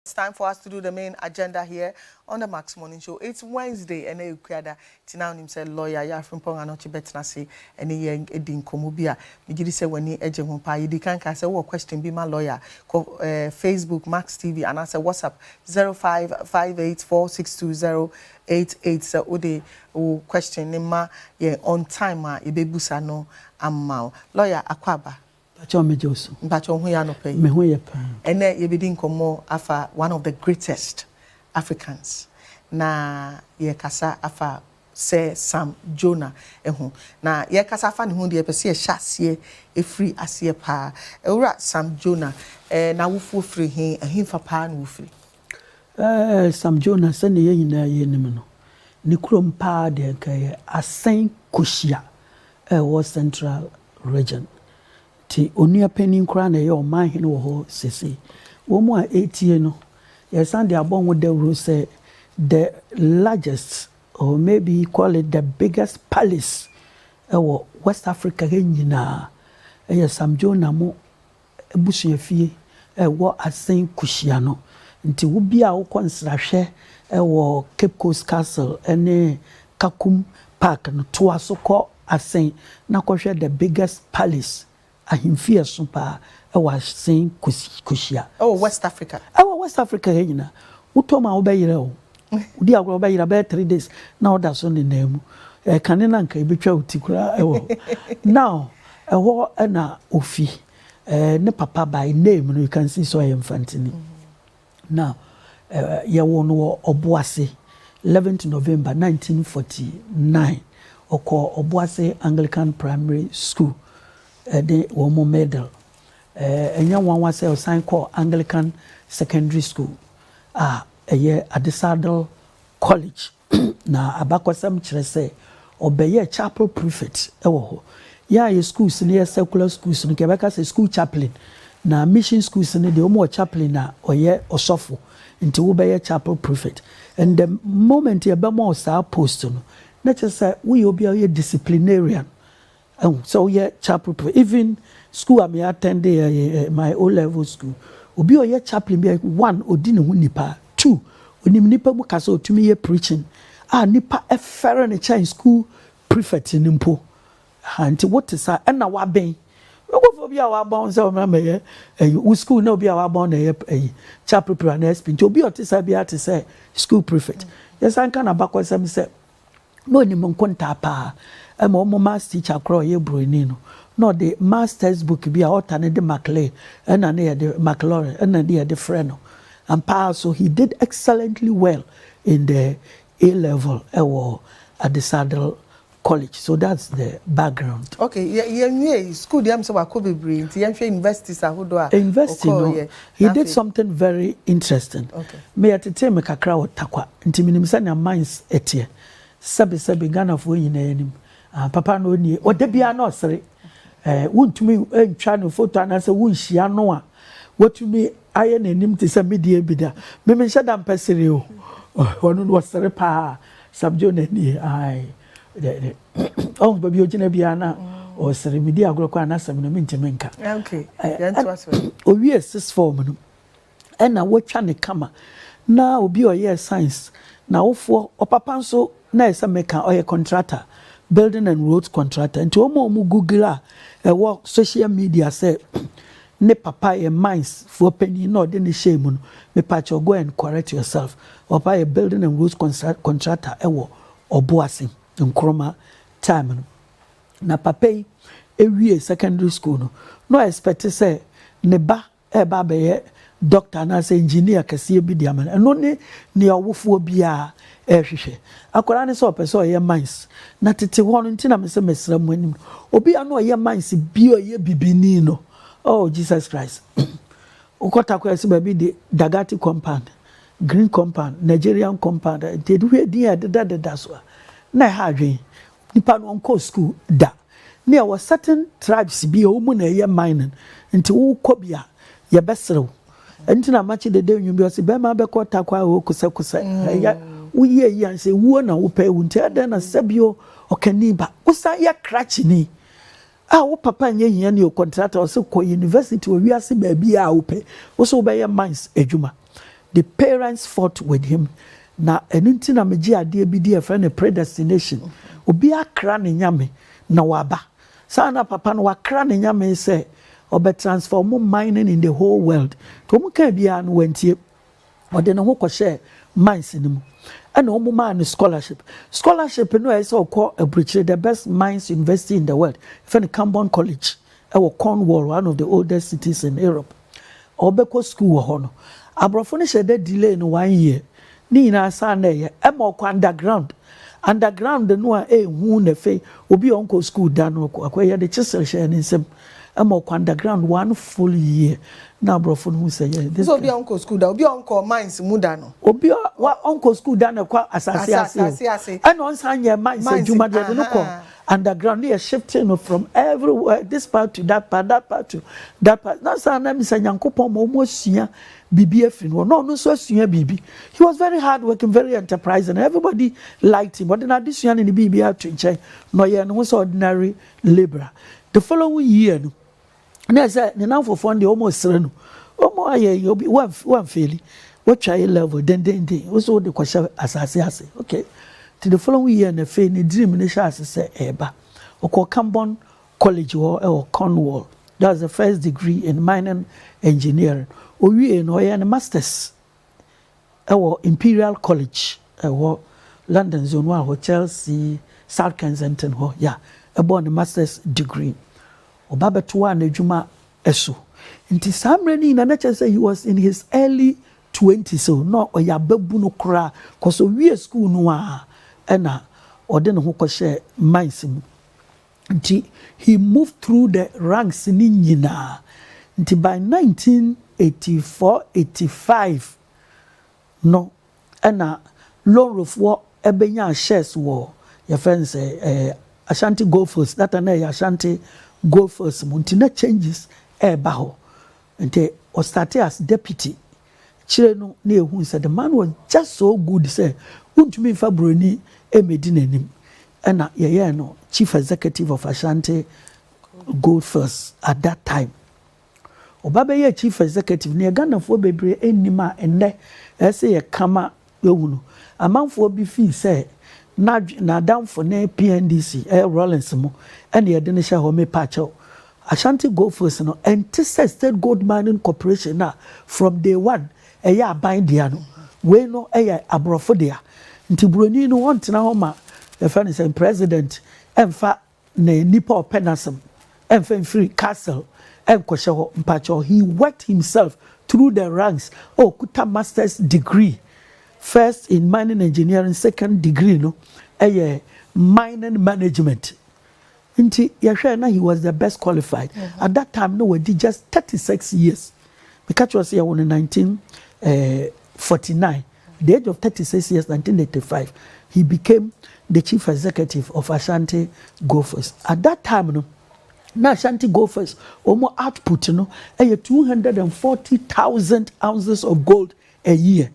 It's time for us to do the main agenda here on the Max Morning Show. It's Wednesday, ɛnɛ yɛ Kuada, nti na wonim sɛ lawyer Yaw Frimpong Anokye bɛtena ase ɛne yɛn adi nkɔmmɔ bi a megye di sɛ w'ani gye ho paa. Yɛdi kan ka sɛ wowɔ question bi ma lawyer kɔ eh, Facebook Max TV anaasɛ WhatsApp 0558462088 sɛ wode wo question no ma yɛn on time a yɛbɛbusa no ama wo. Lawyer, akɔ aba. Mpakyɛw megye wo so. Mpakyɛ wo ho yɛ anɔpa yi? Me ho yɛ paa. Ɛnɛ yɛbɛdi nkɔmmɔ afa one of the greatest Africans na yɛrekasa afa Sir Sam Jonah ho. Na yɛrekasa afa ne ho deɛ yɛpɛ sɛ yɛhyɛ aseɛ ɛfiri aseɛ paa. Owura Sam Jonah, n'awofoɔ firi he? Ɛhefa paa na wofiri? Ɛɛ, Sam Jonah, sɛnea yɛn nyinaa yɛ nim no, ne kurom paa deɛ anka ɛyɛ Asen Koshi a ɛwɔ Central Region. Nti onua panin koraa na ɛyɛ ɔmanhene wɔ hɔ seesei. Wɔn a ɛretie no, yɛresan de abɔ ho dawuro sɛ the largest or maybe call it the biggest palace ɛwɔ West Africa ha nyinaa ɛyɛ Sam Jonah mo abusuafie a ɛwɔ Asen Kuhyia no. Nti wo biaa wokɔ nsrahwɛ wɔ Cape Coast Castle ne Kakum Park no, toa so kɔ Asen na kɔhwɛ the biggest palace, ahemfie a ɛso paa wɔ Asen Kuhyia. Ɛwɔ West Africa. Ɛwɔ West Africa ha nyinaa. Wotɔ mu a wobɛyerɛ o. Wodi agorɔ wobɛyera bɛyɛ three days na woda so nenam mu eh, kane na nka ebetwa wo ti koraa ɛwɔ hɔ now ɛhɔ ɛna ofi eh, ne papa by name no you can see so ɛyɛ mfantini now eh, yɛwɔ no wɔ ɔboase 11th november 1949 ɔkɔ ɔboase anglican primary school ɛde eh, wɔn mo medal ɛnyɛ eh, nwanwa sɛ ɔsan kɔ anglican secondary school a ah, Ɛyɛ Adesadel College, na abakɔsɛm kyerɛ sɛ ɔbɛyɛɛ chapel prefect wɔ hɔ. Yɛn a yɛ schools no yɛ secular schools no, nka yɛbɛka sɛ school chaplain, na mission schools no deɛ, wɔn wɔ chaplain a ɔyɛ ɔsɔfo, nti wobɛyɛ chapel prefect. And the moment yɛbɛma wo saa post no, na kyerɛ sɛ woyɛ obi a woyɛ disciplinarian, Ehu sɛ woyɛ chapel pɛ even school a me attend yɛ yɛ my O level school obi a ɔyɛ chaplain bi a one odi ne ho nipa two onim nipa mu kasa otumi yɛ preaching a nipa ɛfɛre ne kyɛn school prefect no mpo ha nti wote sa ɛna waben nkurɔfoɔ bi a wabɔn sɛ wɔn ama yɛ ɛyi wo school na obi a wabɔn na ɛyɛ ɛyi chapel pɛ na ɛspi nti obi a ɔte sa bi a te sɛ school prefect yɛsan ka na bakɔsɛm sɛ na ɔnim nkontaa pa ara. Ɛma wɔn maths teacher koraa a ɔyɛ buroni no, na ɔde maths text book bi a ɔta no de Maclay ɛna ne yɛde Maclaurin ɛna ne yɛde frɛ no. Ampa ara so he did excellently well in the A level ɛwɔ Adesadel College. So that's the background. Ok, yɛ yɛnwie yi, school deɛ ɛm sɛ wakɔ bebree nti yɛnhwɛ universities ahodoɔ a University no, ɔkɔɔeɛ. he Na did afei, something very interesting. ok. Me yɛtetee me kakra wɔ Tarkwa. Nti menim sɛnea minds teɛ. Sɛbe sɛbe Ghanafoɔ nyinaa yɛnim. Ah papa no ɔnnie. Ɔda biara na ɔsere. Eh, wontumi ntwa ne foto anaasɛ wonhyia no a watumi ayɛ n'anim te sɛ medeɛ bi da. Me menhyɛ da mpɛ sere o. Ɔno no ɔsere paa. Sam Joe na nie. Ae. Dɛ dɛ. Ɔhu baabi ɔgyina biara na ɔsere. Medi agorɔ koraa n'asɛm no mentumi nka. Okay. Yɛntoa so. Ɔwie sixth form no. na wotwa no kama na obi a ɔyɛɛ science na awofoɔ ɔpapa nso na ɛyɛ sɛ meka ɔyɛ contractor building and roads contractor nti wɔn a wɔn google a ɛwɔ social media sɛ ne papa yɛ mines foɔ panyin na ɔde ne hyɛɛ mu no mepakyɛ go and correct yourself ɔpapa yɛ building and roads contractor ɛwɔ ɔboase nkroma time no na papa yi ewie secondary school no na ɔɛspɛte sɛ ne ba reba abɛyɛ dɔkta anaasɛ engineer kɛseɛ bi de ama no. Ɛno ne nea ɔwofoɔ biara rehwehwɛ. Akwadaa no sɛ ɔpɛ sɛ ɔyɛ mines. Na tete hɔ no, nti na mesɛ mɛsra mo anim no, obi a na ɔyɛ mines bi a ɔyɛ bibini no, oh Jesus Christ, wokɔ Takoradi so baabi de Dagati compound, green compound, Nigerian compound, nti hwɛ din a ɛdedadeda so a, na ɛha adwene. Nipa no ɔnkɔɔ sukuu da. Ne yɛwɔ certain tribes bi a wɔn mu na ɛyɛ mining nti wo kɔ bi a yɛbɛsere wo. Ɛnti na makye dede nnwom bi ɔse bɛɛma bɛkɔ takwa oo kosɛ kosɛ ɛyɛ wo yie yie ansa ewuo na wo pɛ ewu nti ɛdɛn na sɛbio ɔkani ba wo san yɛ krakyeni A wo papa nyɛ hiani o contractor ɔse kɔ university wɔ wiase baabi a wopɛ wose wobɛyɛ mines adwuma the parents fought with him na ɛno nti na megye adeɛ bi di ɛfrɛ no predestination obi akra ne nyame na waba saa na papa no wakra ne nyame sɛ ɔbɛ transfer ɔmo mining in the whole world nti ɔmo kaa biara no wantie Ɔde ne ho kɔhyɛɛ mines no mu, ɛnna wɔmaa no scholarship. Scholarship no a ɛyɛ sɛ ɔkɔ aburokyire, the best mines university in the world, yɛfrɛ no Camborne College, ɛwɔ Cornwall, one of the oldest cities in Europe. Ɔbɛkɔ sukuu wɔ hɔ no, aborɔfo no hyɛɛ da delay no one year. Ne nyinaa saa na ɛyɛ. Ɛma ɔkɔ underground. Underground no a ɛyɛ hu na afei obi a ɔnkɔɔ sukuu da no, ɔkɔ akɔyɛ de chisel hyɛɛ ne nsam. Ɛma ɔkwan da ground one full year na aborɔfo no hu sɛ yɛ. Te sɛ obi a ɔnkɔ sukuu da, obi a ɔnkɔ mines mu da no. Obi a wa ɔnkɔ sukuu da na ɛkɔ asase ase o, ɛna ɔnsan nyɛ mines adwuma deɛ ɛde no kɔ underground ne yɛ shifting no from everywhere this part to that part that part to that part na saa na misa Nyankopɔn ma wɔn asua biribi afiri no hɔ na ɔno nso asua biribi he was very hard working very enterprising everybody liked him ɔde n'adesua ne ne biribi ato nkyɛn na ɔyɛ ne ho sɛ ordinary Libra. The following year no, na ɛsɛ ne namfofoɔ no deɛ wɔn srɛ no, wɔn ayɛ yɛ obi wɔnfeeli, wɔtwa yɛ level dendenden, wɔsɛ wɔde kɔhyɛ asase ase. Okay, ti the following year na afei ne dream no hyɛ ase sɛ ɛreba. Ɔkɔɔ Camborne College hɔ ɛwɔ Cornwall. That's the first degree in mining engineering. Owie no ɔyɛ ne masters. wɔ Imperial College a ɛwɔ London Zone 1 hɔ, Chelsea, South Kensington hɔ, ya, bɔɔ ne Masters degree. Ɔba bɛtoaa n'adwuma so. Nti saa mmerɛ no nyinaa na kyerɛ sɛ he was in his early twenties o, na ɔyɛ ababunu koraa, cos ɔwiee sukuu no ara na ɔde ne ho kɔhyɛɛ mines mu. Nti he moved through the ranks no nyinaa. Nti by nineteen eighty four, eighty five no ɛna Lonrofoɔ bɛnyaa shares wɔ yɛfrɛ no sɛ ɛɛ Ashanti Goldfields that time na ɛyɛ Ashanti Goldfields mu nti na changes ɛɛba hɔ. Nti ɔstartee as deputy kyerɛ no na yɛhuu sɛ the man was just so good sɛ wontumi mfa buroni mmɛdi n'anim ɛna yɛyɛɛ no chief executive of Ashanti Goldfields at that time. Ɔba bɛyɛɛ chief executive na yɛ Ghanafoɔ bebree nnim a ɛnnɛ ɛsɛ yɛka ma Yɛahu no, amanfoɔ bi fii sɛ n'adwe, n'adamfo ne PNDC, ɛyɛ Rawlings mu, ɛna yɛde no hyɛ hɔ. Mepakyɛw, Ashanti Gold Fields no, ɛnte sɛ State Gold Mining Corporation no a from day one ɛyɛ aban dea no. Wei no yɛ aborɔfo dea. Nti Buroni no ɔntena hɔ ma, yɛfrɛ no sɛn, President mfa. Na nipa a ɔpɛ n'asɛm ɛnfa mfiri castle ɛnkɔhyɛ hɔ mpakyɛw he worked himself through the ranks a ɔkuta masters degree first in mining engineering second degree no ɛyɛ mining management nti yɛhwɛ na he was the best qualified at that time na wadi just thirty six years. Meka kyerɛ wo sɛ yɛwo no nineteen eh forty nine the age of thirty six years nineteen eighty five he became the chief executive of Ashanti Gophers at that time no na Ashanti Gophers wɔn output no ɛyɛ two hundred and forty thousand ounces of gold a year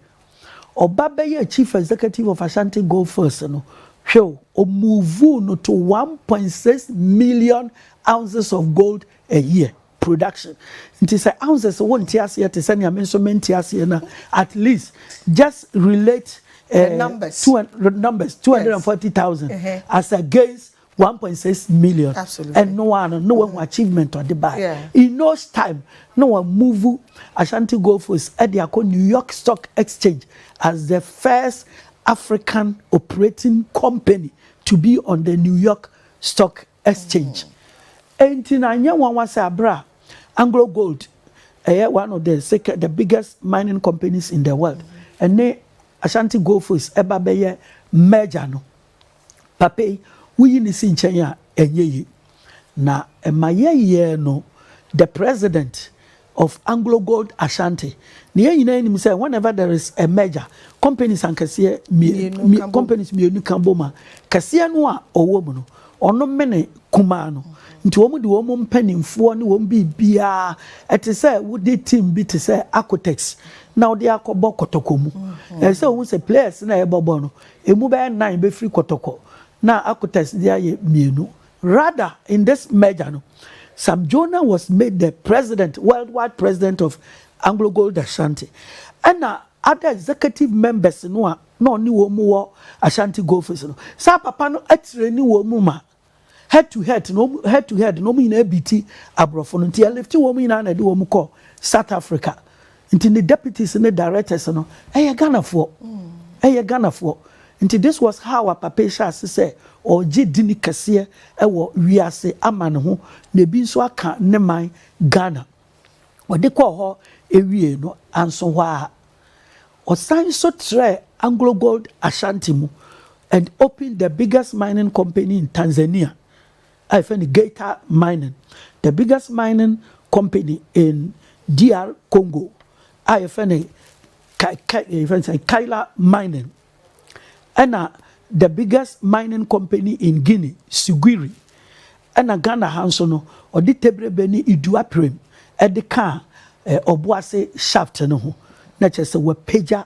ɔba bɛyɛ chief executive of Ashanti Gophers no hwɛ o ɔmuvu no to one point six million ounces of gold a year. production nti sɛ ahu sɛ sɛ wo nte aseɛ te sɛ nea me nso mente aseɛ no at least just relate uh, the numbers, two, the numbers 240,000 yes. uh-huh. as against 1.6 million Absolutely. and no one no one achievement or the buy yeah. in no time no one move Ashanti Gold Coast at the New York Stock Exchange as the first African operating company to be on the New York Stock Exchange. Enti na ɛnyɛ nwanwa sɛ bere a Anglo Gold, ɛyɛ one of the second, the biggest mining companies in the world, ɛne Ashanti Goldfields ɛba bɛyɛ merger no, papa yi, woyi no si nkyɛn a, ɛnyɛ yie. Na ɛma yɛyɛɛ no the president of Anglo Gold Ashanti, na yɛn nyinaa nim sɛ whenever there is a merger, companies ankɛseɛ mmienu, companies mmienu ka bom a, kɛseɛ no a ɔwɔ mu no, ɔno mene kumaa no. Nti wɔn de wɔn mpanimfoɔ ne wɔn biribiara, ɛte sɛ wode team bi te sɛ Acotex na wode akɔbɔ kɔtɔkɔ mu. Ɛsɛ sɛ wɔn sɛ players na ɛbɔbɔ no, emu bɛyɛ nnan bɛfiri kɔtɔkɔ na Acotex de ayɛ mmienu. Rather in this merger no, Sam Jonah was made the president, worldwide president of Anglo Gold Ashanti, ɛna other executive members no a na ɔne wɔn mu wɔ Ashanti Goldfields no, saa papa no atireni wɔn mu ma head to head no, head to head no, wɔn nyinaa biti aborɔfo no, nti ɛlifti wɔn nyinaa na ɛde wɔn kɔ South Africa. Nti ne deputies ne directors no ɛyɛ Ghanafoɔ. Ɛyɛ Ghanafoɔ. Nti this was how a papa yi hyɛ ase sɛ ɔregye dini kɛseɛ ɛwɔ wiase amane ho na ebi nso aka ne man Ghana. Ɔde kɔɔ hɔ ɛwiee no anso hɔ ara. Ɔsan nso trɛɛ Anglo Gold Ashanti mu and opened the biggest mining company in Tanzania. a yɛfrɛ no Geita Mining, the biggest mining company in DR Congo a yɛfrɛ no Kai, Kai, eh, yɛfrɛ no sɛ Kaila Mining, ɛna the biggest mining company in Guinea, Siguiri, ɛna Ghana ha nso no, ɔde Tebrebe ne Iduaprem ɛde kaa eh, Ɔboase shaft no ho, na kyerɛ sɛ wapagya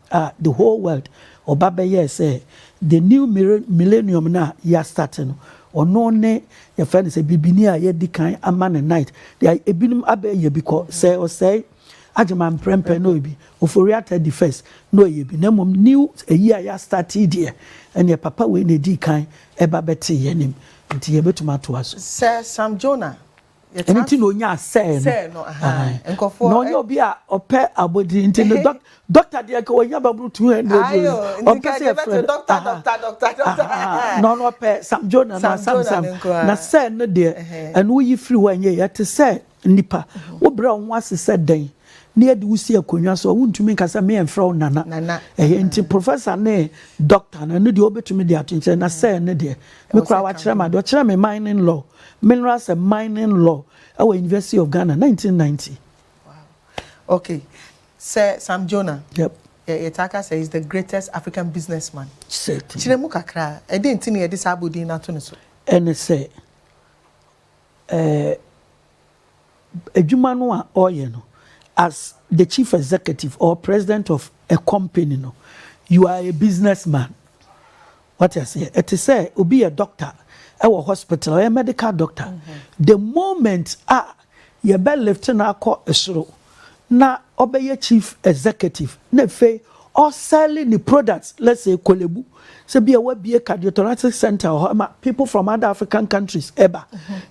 a the whole world ɔba bɛyɛɛ sɛ the new millennium no a yɛastate no, ɔno ne yɛfrɛ no sɛ bibini a yɛadi kan ama no night. Deɛ ebinom abɛyɛ bi kɔ sɛ ɔsɛe agyema mprɛmprɛ na ɔyɛ bi, Ofori-Atta di first na ɔyɛ bi, na mmom new ayi a yɛastate yi deɛ, ɛnneɛ papa wei na ɛdii kan ɛba bɛtee yɛn anim, nti yɛbɛtumi atoa so. Sɛ Sam Jonah Ɛno nti na ɔnyaa sɛɛ no. Sɛɛ no, ahaa. Nkurɔfoɔ. Na ɔnyɛ obi a ɔpɛ abɔdin nti no dɔk dɔkta deɛ nka ɔnya babunu two hundred o. Ayo, nti nka deɛ bɛto no dɔkta dɔkta dɔkta dɔkta ahaa. Na ɔno ɔpɛ Sam Jonah no a Sam Sam. Na sɛɛ no deɛ ɛno woyi firi hɔ a ɛnyɛ yie. Ɛte sɛ nnipa, wobrɛ wo ho ase sɛ dɛn na yɛde wo si akonnwa so a wontumi nka sɛ meɛmfrɛ wo Nana. Nana. Ɛhɛ nti professor ne dɔkta no ɛno deɛ wobɛtumi de ato nkyɛn na sɛɛ no deɛ me koraa wakyerɛ me adeɛ, ɔkyerɛɛ me mining law. Minerals and Mining Law wɔ University of Ghana, nineteen ninety. Wow. Okay. Sɛ Sam Jonah. Yep. Yɛtaa ka sɛ he's the greatest African businessman. Certainly. Kyerɛ mu kakra, ɛde nti na yɛde saa abodin no ato ne so. Ɛne sɛ, ɛɛ. Eh, adwuma no a ɔyɛ no as the chief executive or president of a company no you are a business man wate aseɛ ɛte sɛ obi yɛ doctor ɛwɔ hospital ɔyɛ medical doctor mm -hmm. the moment a yɛbɛ lift no akɔ soro na ɔbɛyɛ chief executive na afei ɔ sell ne products let's say Korle Bu sɛ bia wabie cardiothoracic center wɔ hɔ ɛma people from other African countries ɛba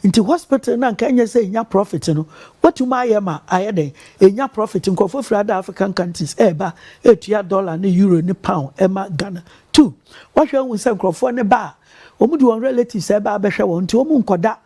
nti hospital no anka ɛnyɛ sɛ ɛnya profit no watumi ayɛ ma ayɛ dɛn ɛnya profit nkurɔfoɔ firi other African countries ɛba ɛtua dollar ne euro ne pound ɛma Ghana two wahwɛ ahu sɛ nkurɔfoɔ no ba a wɔn de wɔn relatives ɛba abɛhwɛ wɔn nti wɔn nkɔda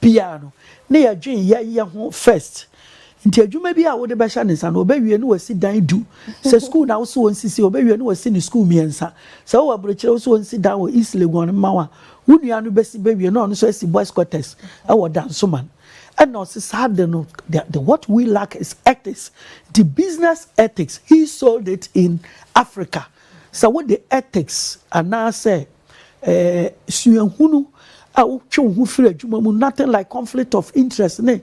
biara no na yɛdwen yɛyɛ ho first nti adwuma bi a wode bɛhyɛ ne nsa no ɔbɛwie na wasi dan du sɛ school na wosɛ ɔnsisi ɔbɛwie na wasi ne school mmiɛnsa sɛ wowɔ aburokyerɛ wosɛ ɔnsi dan wɔ East Legon mma wa wo nua no bɛsi bɛwie na ɔno nso asi boys quarters ɛwɔ Dansoman ɛna ɔse saa de no the, the what we lack is ethics the business ethics he sold it in Africa Sɛ wode ethics anaasɛ suahunu a wotwe wo ho firi adwuma mu, nothing like conflict of interest ne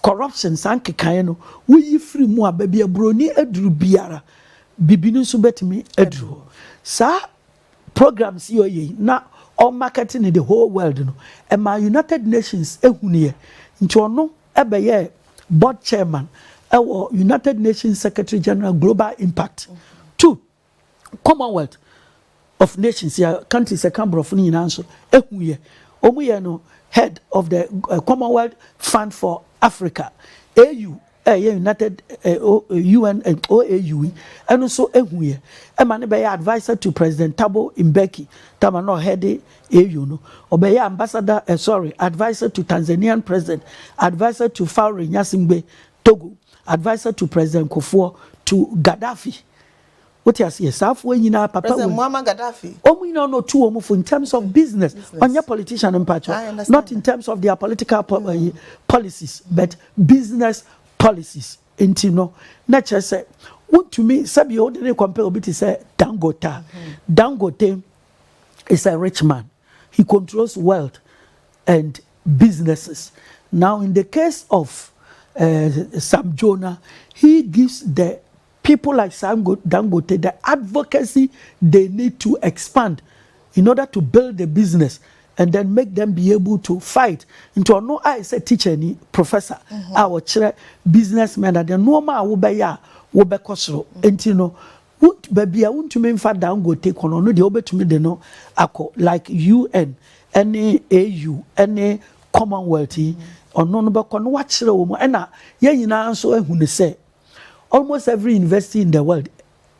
corruption, saa nkekaeɛ no, woyi firi mu a, baabi a buroni aduru biara, bibini nso bɛtumi aduru hɔ. Saa programs yi a ɔyɛ yi, na ɔremarket no the whole world no, ɛmaa United Nations hunuiɛ. Nti ɔno bɛyɛɛ board chairman wɔ United Nations Secretary General Global Impact to Commonwealth of Nations yɛ countries ɛka borɔfo no nyinaa nso ehu yɛ wɔn yɛ no head of the eh, Commonwealth Fund for Africa AU ɛyɛ eh, United UN eh, OAU yi ɛno nso ehu yɛ ɛma no bɛyɛ adviser to President Thabo Mbeki Thabo na ɔhɛde AU no, ɔbɛyɛɛ ambassador, eh, sorry, adviser to Tanzanian President, adviser to Faure Gnassingbé, Togo, adviser to President Kufuor, to Gaddafi. Wote aseɛ? Saa foɔ nyinaa papa President wɔ Muammar Gaddafi. wɔn nyinaa na ɔtu wɔn fo in terms of business. Business. Ɔnyɛ politician I mpakyɛw, understand not in that. terms of their political po- eh, policies but business policies. Nti no, na kyerɛ sɛ wontumi sɛbi wode ne compare obi te sɛ Dangote a, Dangote is a rich man, he controls wealth and businesses, now in the case of uh, Sam Jonah, he gives the people like Sam Dangote the advocacy they need to expand in order to build the business and then make them be able to fight nti ɔno a ɛsɛ teacher ni professor mhm. a ɔkyerɛ businessmen ade nneɛma a wobɛyɛ a wobɛkɔ soro nti no Wo baabi a wontumi mfa Dangote kɔ no, ɔno deɛ wobɛtumi de no akɔ like UN ne AU ne Commonwealth yi, ɔno no bɛkɔ na wakyerɛ wɔn mu. Ɛna yɛn nyinaa nso ahu no sɛ almost every university in the world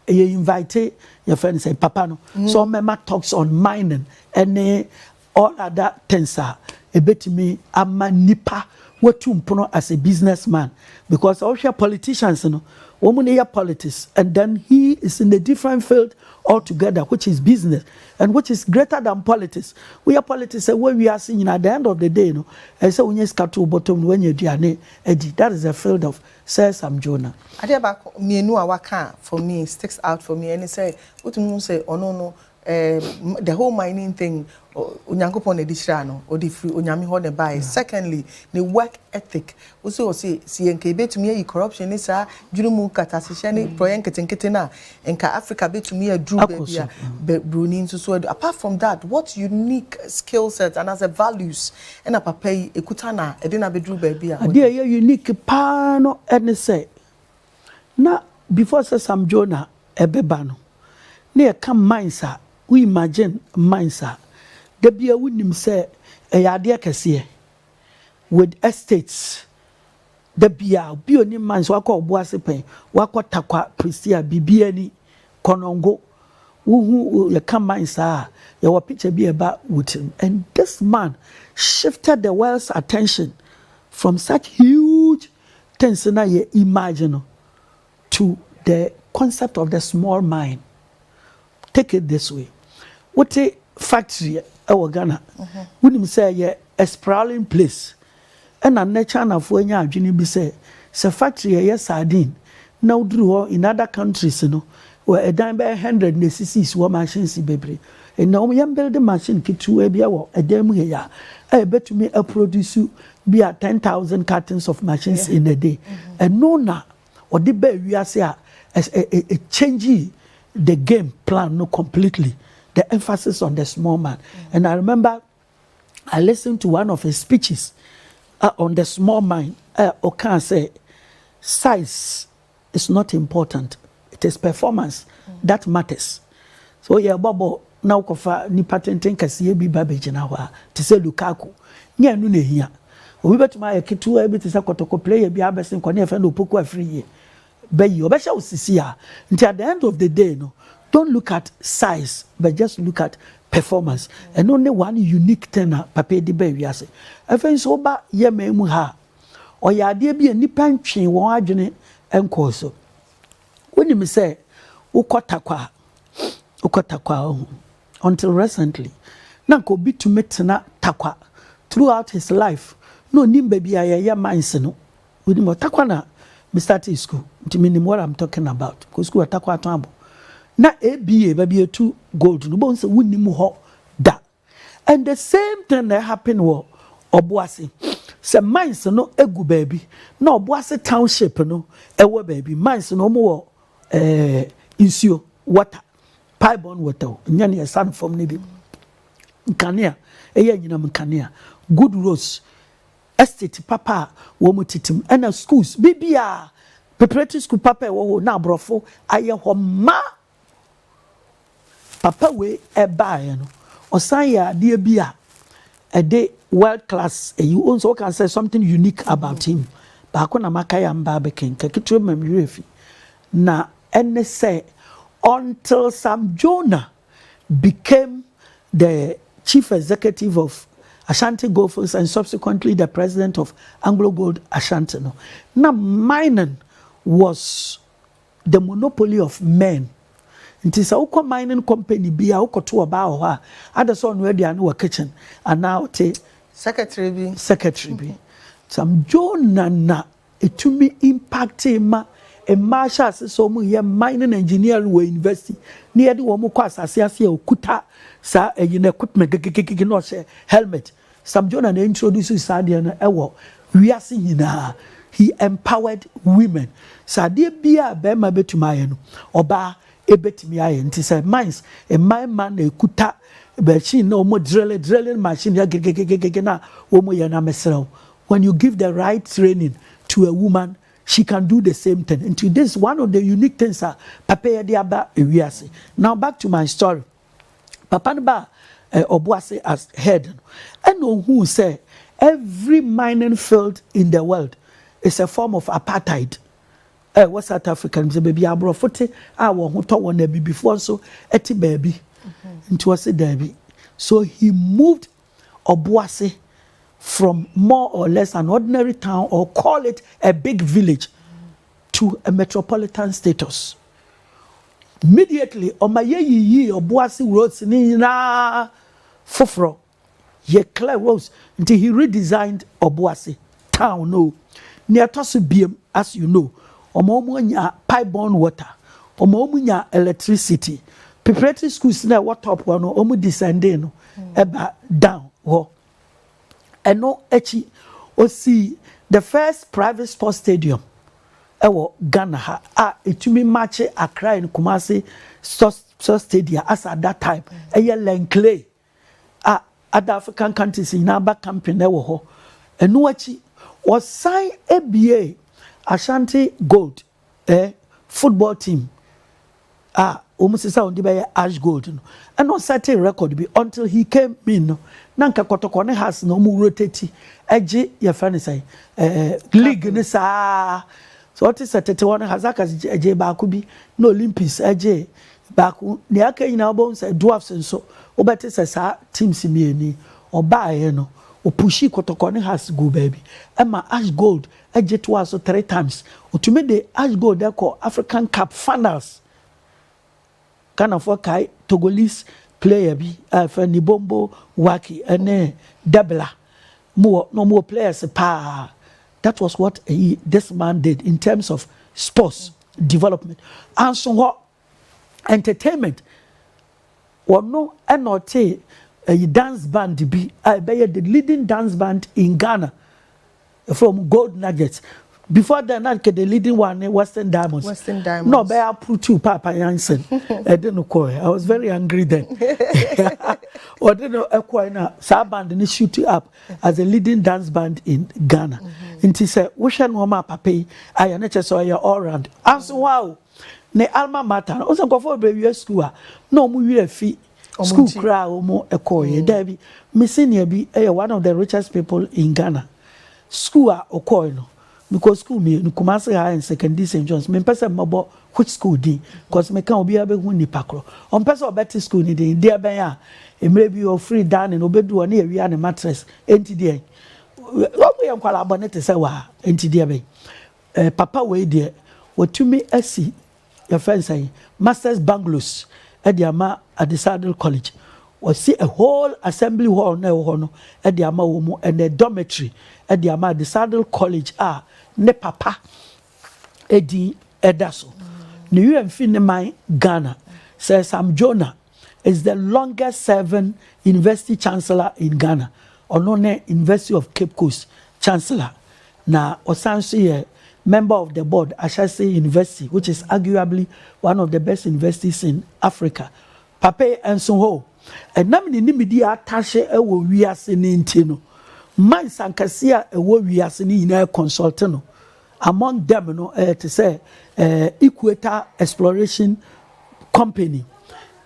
yɛ invite yɛfrɛ no sɛ papa no sɛ ɔmmɛma talks on mining ne All other things a ɛbɛtumi ama nipa watu mpono as a business man because sɛ wohwɛ politicians no wɔn ne yɛ politics and then he is in a different field altogether which is business and which is greater than politics woyɛ politics a wɔ wiase nyinaa the end of the day no ɛyɛ sɛ wonya sika to bɔtɔm no woanya aduane adi that is the field of Sir Sam Jonah. Adeɛ baako mmienu a waka for me sticks out for me ɛne sɛ wotumi hu sɛ ɔno no Erm the whole mining thing Onyankopɔn na ɛde hyiraa no, ɔde firi Onyame hɔ na ɛbaeɛ. Secondly, ne work ethic, wo se ɔse se yɛnka yɛbɛtumi ayi corruption ne saa dwene mu nkatasehyɛ ne prɔeɛ nketenkete no a, nka Africa bɛtumi aduru baabi a Broni nso so adu. Apart from that, what unique skill set anaasɛ values na papa yi ɛkuta na ɛde no abɛduru baabi a ɔduru? Adeɛ a ɛyɛ unique paa no ne sɛ, na before sɛ Sam Jonah ɛbɛba no na yɛka mines a wo imagine mines a dabiaa wo nim sɛ ɛyɛ adeɛ kɛseɛ with estates dabiaa obi onim mines wakɔ Obuasepɛn wakɔ Takwa Prestea biribiaa ni Konongo wo hu yɛka mines a yɛwɔ picture bi ɛba wo tirim and this man shifted the world's attention from such huge Things na yɛ image no to the concept of the small mind. Take it this way, wote factory wɔ Ghana, wonim sɛ yɛ a sprawling place. Ɛna nnɛ Chinafoɔ anya adwene bi sɛ, sɛ factory a ɛyɛ sardine na woduru hɔ in other countries no, wɔ ɛdan bɛyɛ hundred na esisisi hɔ machines bebree. Nnɛ wɔyɛ mbuilde machine ketewaa bi wɔ ɛdan mu hei a, a ɛbɛtumi aproduce Bi a ten thousand cartons of machines in a day, ɛno na wɔde baa wiase a ɛkyɛngyi the game plan no completely, the emphasis on the small man. And I remember I listened to one of his speeches on the small man a ɔkaa sɛ size is not important it is performance that matters sɛ woyɛ ɛbɔ bɔɔl na wokɔfa nipa tenten kɛseɛ bi ba bɛgyina hɔ a te sɛ Lukaku nyɛ ɛno na ɛhia obi bɛtumi ayɛ ketewa bi te sɛ kɔtɔkɔ player bi abɛse nkɔ ne yɛfɛ no opoku afiri yie bɛyi ɔbɛhyɛ wo sisi a nti at the end of the day no don't look at size but just look at performance ɛno ne one unique thing a papa di ba wiase afei nso woba yɛ man mu ha a Ɔyɛ adeɛ bi a nnipa ntwee wɔn adwene nkɔɔ so. Wonim sɛ wokɔ Tarkwa a, wokɔ Tarkwa a, ɔho. Until recently, na nka obi tumi tena Tarkwa throughout his life, na onim baabi a yɛyɛ mines no. Wonim wɔ Tarkwa na me startee school, nti menim what I'm talking about. Kɔ school wɔ Tarkwa Aton Abo. Na ABA, baabi a yɛtu gold no, wobɛhu sɛ wonim hɔ da. And the same thing na happen wɔ Ɔboase. Sɛ mines no gu baabi na Ɔboase township no wɔ baabi mines no wɔn wɔ eh, nsuo water piebon water o nyɛ ne ɛsa no fam no bi nkanea ɛyɛ anyinam nkanea good roads estate papa a wɔn titim ɛna schools bibia preparatory school papa ɛwɔ hɔ na aborɔfo ayɛ hɔ ma Papa wei ɛbaeɛ no ɔsan yɛ adeɛ bi a ɛde world class ɛyi o nso ɔka sɛ something unique about him baako na maka yɛ mba abɛkenka ketewa ma mmerɛ fi na ɛne sɛ until Sam Jonah became the chief executive of Ashanti Goldfields and subsequently the president of Anglo Gold Ashanti no na mining was The Monopoly of Men. Nti sɛ wokɔ mining company bi a wokɔto ɔbaa wɔ hɔ a, ada sɛ ɔnoa aduane wɔ kitchen anaa ɔte Secretary bi. secretary bi. Sam Jonah na ɛtumi impactee ma mmaa hyɛ ase sɛ wɔyɛ mining engineering wɔ university na yɛde wɔn kɔ asase ase a ɔkuta saa ayi no equipment gegegege na ɔhyɛ helmet Sam Jonah na introduce saa adeɛ no wɔ wiase nyinaa, he empowered women, sɛ adeɛ biara a barima bɛtumi ayɛ no, ɔbaa bɛtumi ayɛ, nti sɛ mines, mmarimma na ɛkuta machine na wɔn drille, drilling machine yɛ gegegegege na wɔn yɛ na mesrɛ wo, when you give the right training to a woman, she can do the same thing, nti this is one of the unique things a papa yi de aba wiase. Now back to my story. Papa no baa eh Obuasi as head no, ɛna ohuu sɛ every mining field in the world is a form of apartheid. Eh wɔ South Africa no, sɛ baabi a aborɔfo te a wɔn ho tɔ wɔn na abibifoɔ nso te baabi. Nti ɔse daabi. So he moved Obuasi from more or less an ordinary town or call it a big village to a metropolitan status. Immediately ɔma yɛyiyii Ɔboase roads no nyinaa foforɔ. Yɛ clear roads nti he redesigned Ɔboase town no. Nea ɛtɔ so biam as you know ɔma wɔn nya pipe borne water, ɔma wɔn nya electricity. Preparatory schools no a ɛwɔ top hɔ no wɔn descending no ɛba down hɔ. Ɛno akyi, osii the first private sports stadium wɔ Ghana ha a ɛtumi makye Accra and Kumasi Sports Stadia as at that time. Ɛyɛ Lenclay a other African countries nyinaa ba camping wɔ hɔ. Ɛno akyi, wɔsan buee Ashanti Gold Eh football team a wɔn sesa wɔn de bɛyɛ ash gold no ɛna ɔsɛte record bi until he came in no na nka kɔtɔkɔ ne has na wɔn rotate ɛgye yɛfrɛ ne sɛ ɛɛ league ne saa so ɔte sɛ tete hɔ no hazakas ɛgye baako bi na olympics ɛgye baako nea aka nyinaa wɔbɛn sɛ dwarfs nso wɔbɛte sɛ saa teams mmienu ɔbaaeɛ no opushi kɔtɔkɔ ne has gu baabi ɛma ash gold Agye toaa so three times. Otumi de Ash Gold kɔ African Cup finals. Ghanafoɔ kae Togolese player bi a yɛfrɛ no Ibombo Waki ne Debela. Wɔn wɔ, na wɔn wɔ players paa. That was what this man did in terms of sports development. Anso hɔ. entertainment wɔno ɛna ɔtee ɛyi dance band bi a ɛbɛyɛ the leading dance band in Ghana ɛfrɛ wɔn gold nuggets before then na nke the leading one ne western diamonds Western Diamonds. na ɔbɛyɛ apurutu paapa yansen ɛde no kɔɛ i was very angry then ɔde no ɛkɔɛ na saa band no shoot up as a leading dance band in ghana nti sɛ wohwɛ nneɛma a papa yi ayɛ ne kyɛ sɛ ɔyɛ all round anso hɔ a o ne alma mater no, ɔsɛ nkurɔfoɔ bebree wie sukuu a, na wɔn werɛ afi sukuu koraa a wɔn kɔɔyɛ. Mm. Daabi, me senior bi yɛ one of the richest people in Ghana. Sukuu a ɔkɔɔe no, mekɔ sukuu mmienu, Kumasi High and Secondary St. John's. Mempɛ sɛ mmɛbɔ which school din, because meka obiara bɛhu nipa korɔ. Ɔmpɛ sɛ ɔbɛte sukuu no din, deɛ bɛn a, mmerɛ bi ɔfiri dining, ɔbɛdu hɔ ne yɛwia ne mattress, enti deɛ, wɔn yɛ nkwadaa bɔne te sɛ waa, enti deɛ bɛn. Eh papa wei deɛ watumi asi yɛfrɛ no sɛn masters bungalows de ama Adesadel college wasi a whole assembly hall na ɛwɔ hɔ no de ama wɔn mu ɛnɛ dormitory de ama Adesadel college a ne papa edin ɛda so ne wura mfi ne man Ghana Sir Sam Jonah is the longest serving university chancellor in Ghana. Ɔno ne University of Cape Coast chancellor na ɔsan nso yɛ member of the board Ashesi University which is arguably one of the best universities in Africa. Papa yi nso hɔ ɛnam ne nimidi a atahye wɔ wiase no nti no, mines ankɛse a ɛwɔ wiase no nyinaa consulte no. Among them no ɛyɛ te sɛ ɛɛ Equator Exploration Company,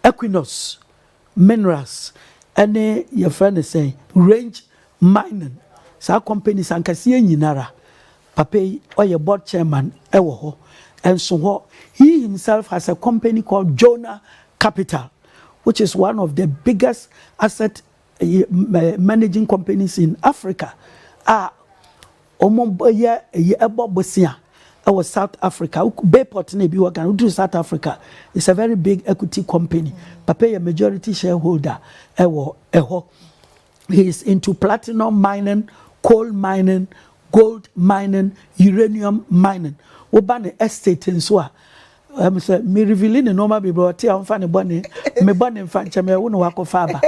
Equinors Minerals ɛne yɛfrɛ no sɛn Range Mining saa companies ankaseɛ nyinara papa yi ɔyɛ board chairman ɛwɔ hɔ ɛnso hɔ he himself has a company called Jonah Capital which is one of the biggest asset Ɛyɛ managing companies in Africa a wɔyɛ ɛyi ɛbɔ bosea ɛwɔ South Africa Bayport na ebi wɔ Ghana woduru South Africa it's a very big equity company papa yɛ majority shareholder ɛwɔ ɛhɔ he is into platinum mining coal mining gold mining uranium mining woba ne estate nso a. Ɛm sɛ me reveali ne nnoɔma bebree ɔte a ɔmfa ne bɔne me bɔne mfa nkyɛ me ɛwo na wakɔfa aba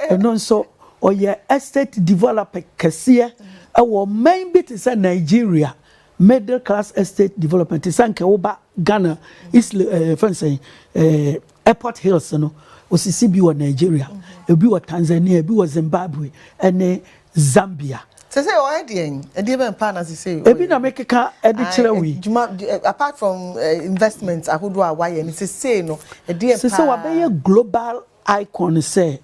ɛno nso ɔyɛ estate developer kɛseɛ ɛwɔ ɔman bi te sɛ Nigeria middle class estate development te sɛ nkɛ woba Ghana East ɛɛ fɛn sɛ ɛɛ airport hills no osisi bi wɔ Nigeria ebi wɔ Tanzania ebi wɔ Zimbabwe ɛne Zambia. Sese ɔyɛ deɛ yi, ɛdeɛ bɛn paa na sese ɔyɛ? Ebi na me keka ɛde kyerɛ wo yi. Juma apart from eh, investment ahodoɔ a wayɛ no sese no ɛdeɛ paa. Sese wabɛyɛ global icon sɛ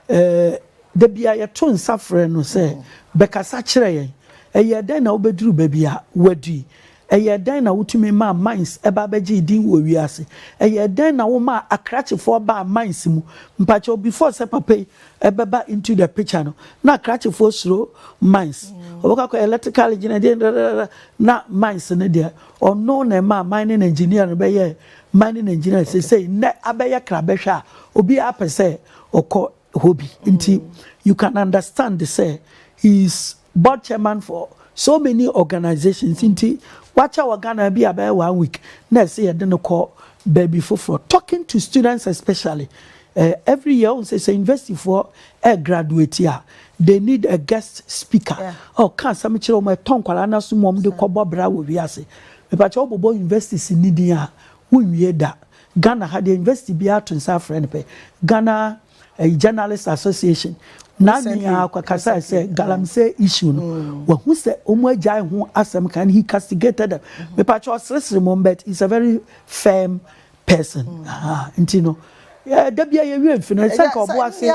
eh, dabi a yɛto nsa frɛ no sɛ mm. bɛkasa kyerɛ yɛn. Ɛyɛ dɛn na wobɛduru baabi a wadi Ɛyɛɛ dɛn na wotumi maa mines ba bɛgyee din wɔ wiase? Ɛyɛɛ dɛn na womaa akrakyefoɔ baa mines mu? Mpakyɛw, before sɛ papa yi bɛba into the picture no, na akrakyefoɔ suro mines. Wɔbɛkɔ akɔyɛ electrical engineer, deɛ dadadada, na mines no deɛ, ɔno na ɛmaa mining engineer no bɛyɛɛ mining engineer. Seesei, nnɛ abɛyɛ krabɛhwɛ a, obiara pɛ sɛ ɔkɔ hɔ bi nti you can understand sɛ he is board chairman for so many organisations nti wakyɛ wɔ Ghana bi a bɛyɛ one week na ɛsɛ yɛde no kɔ baabi foforɔ talking to students especially uh, every year ɔn sɛ sɛ university foɔ ɛ graduate a they need a guest speaker ɔka asɛm kyerɛ wɔn ɛtɔ nkwadaa no aso mu wɔn de kɔbɔ bra wɔ wiase mepatwa wɔbobɔ universities ni din a wonwie da. Ghana ha deɛ university biara ato nsa afrɛ no pɛ Ghana ɛyi journalist association na nyinaa kasa sɛ galamsey issue no mm. wahu sɛ wɔn agyae ho asɛm kan he castigated them mm-hmm. mepakyɛ ɔseresere mu but he's a very firm person mm. ah, nti no da bia yɛwie mfi no ɛsɛ nka ɔbo ase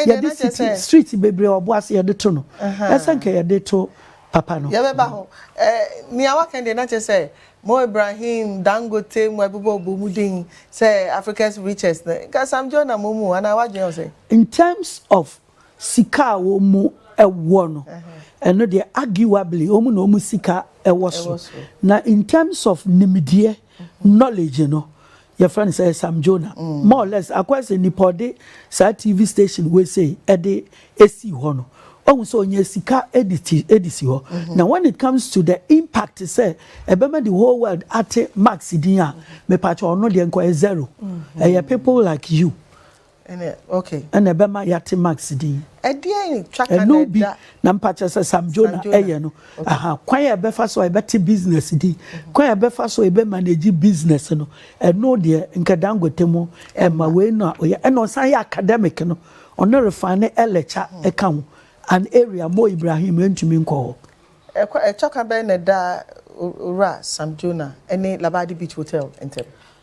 yɛde city street bebree ɔbo ase yɛde to no ɛsɛ nka yɛde to papa no yɛbɛba ho nea waka deɛ na kyerɛ sɛ Mo Ibrahim, Dangote, mu ɛbobɔ ɔbɔ mu din sɛ Africa's richest no, nka Sam Joe na mo mu anaa w'adwene wɔ sɛn? In terms of sika a wɔn wɔ no, ɛno deɛ arguably wɔn na wɔn sika wɔ soro. Na in terms of nimdeɛ, knowledge, no, yɛfrɛ no sɛ Sam Jonah mm. more or less akɔyɛ sɛ nipa ɔde saa TV station wei sɛ ɛde esi hɔ no ɔhu sɛ ɔnya sika ɛde ti ɛde si hɔ mm-hmm. na when it comes to the impact sɛ ɛbɛma the whole world ate Max din a mepatwa ɔno deɛ nkɔyɛ zero mm-hmm. ɛyɛ people like you. Ɛna ɛbɛma yɛate Max din. Ɛno bi na mpakyɛ sɛ Sam Jonah ɛyɛ no. Aha, kwan a yɛbɛfa so a yɛbɛte business din, kwan a yɛbɛfa so a yɛbɛ manage business no, ɛno deɛ nka Dangote mo ɛmma wei na ɔyɛ. Ɛna ɔsan yɛ academic no, ɔno refa ne ɛlɛkya ɛka ho. An area Mo Ibrahim ɛntumi nkɔ hɔ. Ɛtɔka bɛn na ɛda Owura Sam Jonah ɛne Labadi Beach Hotel ntɛm?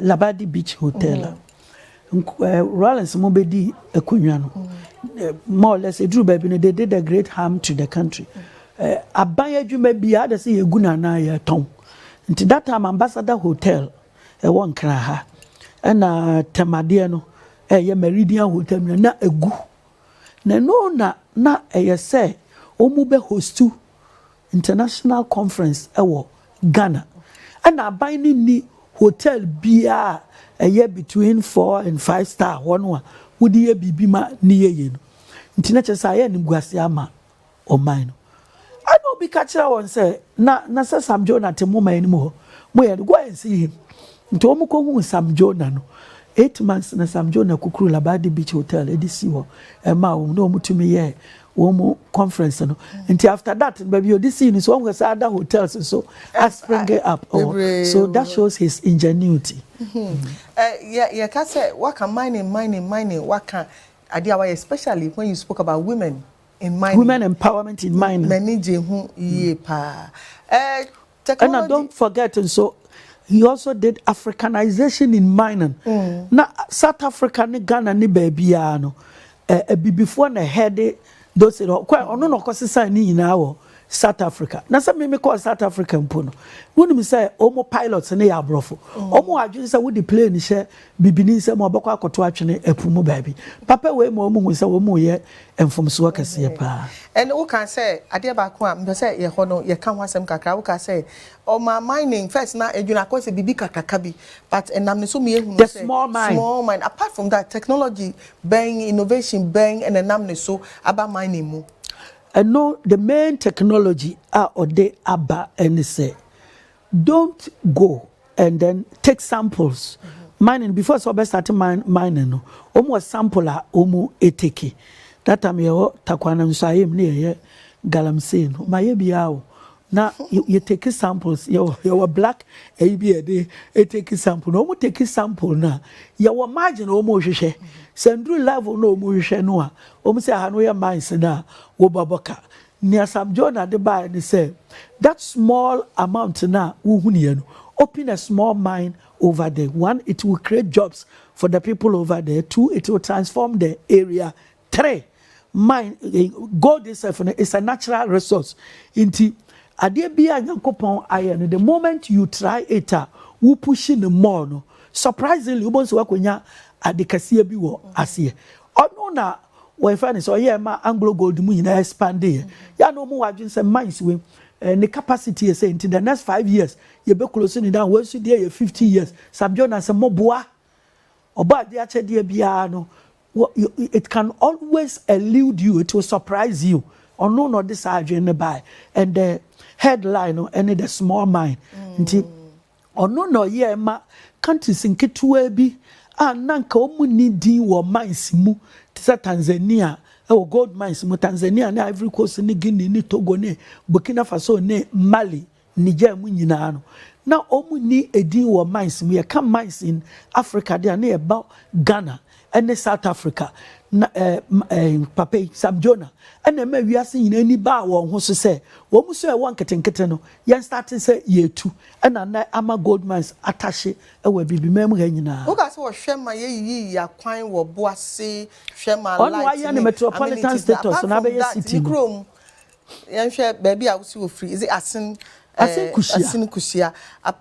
Labadi Beach Hotel a Rollins mo bɛ di akonwa no more or less eduru baabi no they did a great harm to the country aban adwuma bi a adasɛ yɛgu no anaa yɛtɔn nti that time ambassador hotel ɛwɔ nkran ha ɛna tɛmadeɛ no ɛyɛ meridian hotel no na egu na no na na ɛyɛ sɛ wɔn bɛ hostu International Conference wɔ Ghana. Ɛna aban no nni hotel biaa a ɛyɛ between four and five star hɔ no a wode yɛ biribi ma ne yɛ yie no. Nti na kyerɛ sɛ ayɛ animguaseɛ ama ɔman no. Ɛna obi ka kyerɛɛ wɔn sɛ, na na sɛ Sam Jonah te mo man no mu hɔ, moyɛ no, go and see him. Nti wɔn kɔ huu Sam Jonah no. Eight months na Sam Jonah kukuruu Labadi Beach Hotel de sii hɔ maa wɔn na wɔn tumi yɛɛ wɔn conference no. Nti after that no baabi ɔde sii no so wɔn hwɛ saa other hotels nso a spring up wɔ. So that shows his ingenuity. Yɛ yɛ ka sɛ waka mining mining mining waka adeɛ a wayɛ especially when you spoke about women in mining. Women empowerment in mining. M'ani gye ho yie paa. Eh, Ɛna don't forget nso he also did Africanization in mining. Mm. Na South Africa ne Ghana ne baabiara no abibifoɔ na ɛhɛde those hɔ kɔ ɔno na ɔkɔsesan ne nyinaa wɔ South Africa na sɛ mímí kɔɔ South Africa mpo no wonim sɛ wɔn pilots ne yɛ aborɔfo wɔn mm. adwene sɛ wode plane hyɛ Bibini nsam a ɔbɛkɔ akɔtow atwene ɛpo mu baabi. Papa wei ma wɔn hu sɛ wɔn reyɛ mfomsoɔ kɛseɛ paa. Ɛnna wokaa sɛ adeɛ baako a mepɛ sɛ yɛhɔ no yɛka ho asɛm kakra. Wokaa sɛ ɔmaa mining first na edwene akɔ sɛ biribi kakraka bi but ɛnam ne so ma yɛhunu sɛ small mine. Small mine. Apart from that technology bɛn, innovation bɛn na ɛnam ne so aba mining mu? Ɛno the main technology a ɔde aba ne sɛ Don't go and then take samples mining before sɛ ɔbɛ start mining no wɔn wɔ sample a wɔn etake that time yɛwɔ takwa no nso ayɛ mu ne yɛyɛ galamsey no wɔn ayɛ biara o na yɛ take samples yɛwɔ yɛwɔ black ɛyi bi yɛde etake sample na wɔn take sample na yɛwɔ margin a wɔn rehwehwɛ sɛ nduru level na wɔn rehwehwɛ no a wɔn sɛ aha no yɛ mines na wɔbɔ bɔ ka Nea Sam Jonah de baeɛ ne sɛ, that small amount no a wohunuiɛ no, open a small mine over there, one it will create jobs for the people over there, two it will transform the area, three mine, gold itself no is a natural resource. Nti, adeɛ bi a Nyankopɔn ayɛ no, the moment you try it a, wo pushi no more no, surprisingly, wobɛhu sɛ woakɔnya ade kɛseɛ bi wɔ aseɛ. Ɔno na wɔyɛfrɛ no sɛ ɔyɛɛ ma anglo gold mu nyinaa expande yɛ yɛ a na ɔmu wɔ adwene sɛ mines wei eh, ne capacity yɛ sɛ nti the next five years yɛbɛkulosi ne dan wei nso deɛ yɛ fifty years Sam Jonas sɛ moboa ɔbɔ adeɛ akyɛdeɛ biara no it can always elude you it will surprise you ɔno na ɔde saa adwene no bae and the headline no ɛne the small mind nti. Mm. Ɔno na ɔyɛɛ ma countries nketewaa bi a na anka wɔn nni din wɔ mines mu te sɛ Tanzania wɔ gold mines mu, Tanzania ne Ivory Coast ne Guinea ne Togo ne Burkina Faso ne Mali, Niger mu nyinaa no na wɔn nni edin wɔ mines mu. Yɛka mines in Africa de a na yɛbɔ Ghana, ne South Africa, na papa yi, Sam Jonah, na ɛmaa wiase nyinaa ani baa wɔn ho so sɛ wɔn su a ɛwɔ nketenkete no, yɛnstate sɛ yɛretu, ɛna na ama gold mines atahye wɔ Abibiman mu ha nyinaa. Woka sɛ wɔhwɛ ma yɛyiyi yɛn akwan wɔ bo ase, hwɛ ma light ne amenities, but apart from that, ne kurom Yɛnhwɛ baabi a wosi ofiri. Is it Asin? Asin Kusia. Asin Kusia.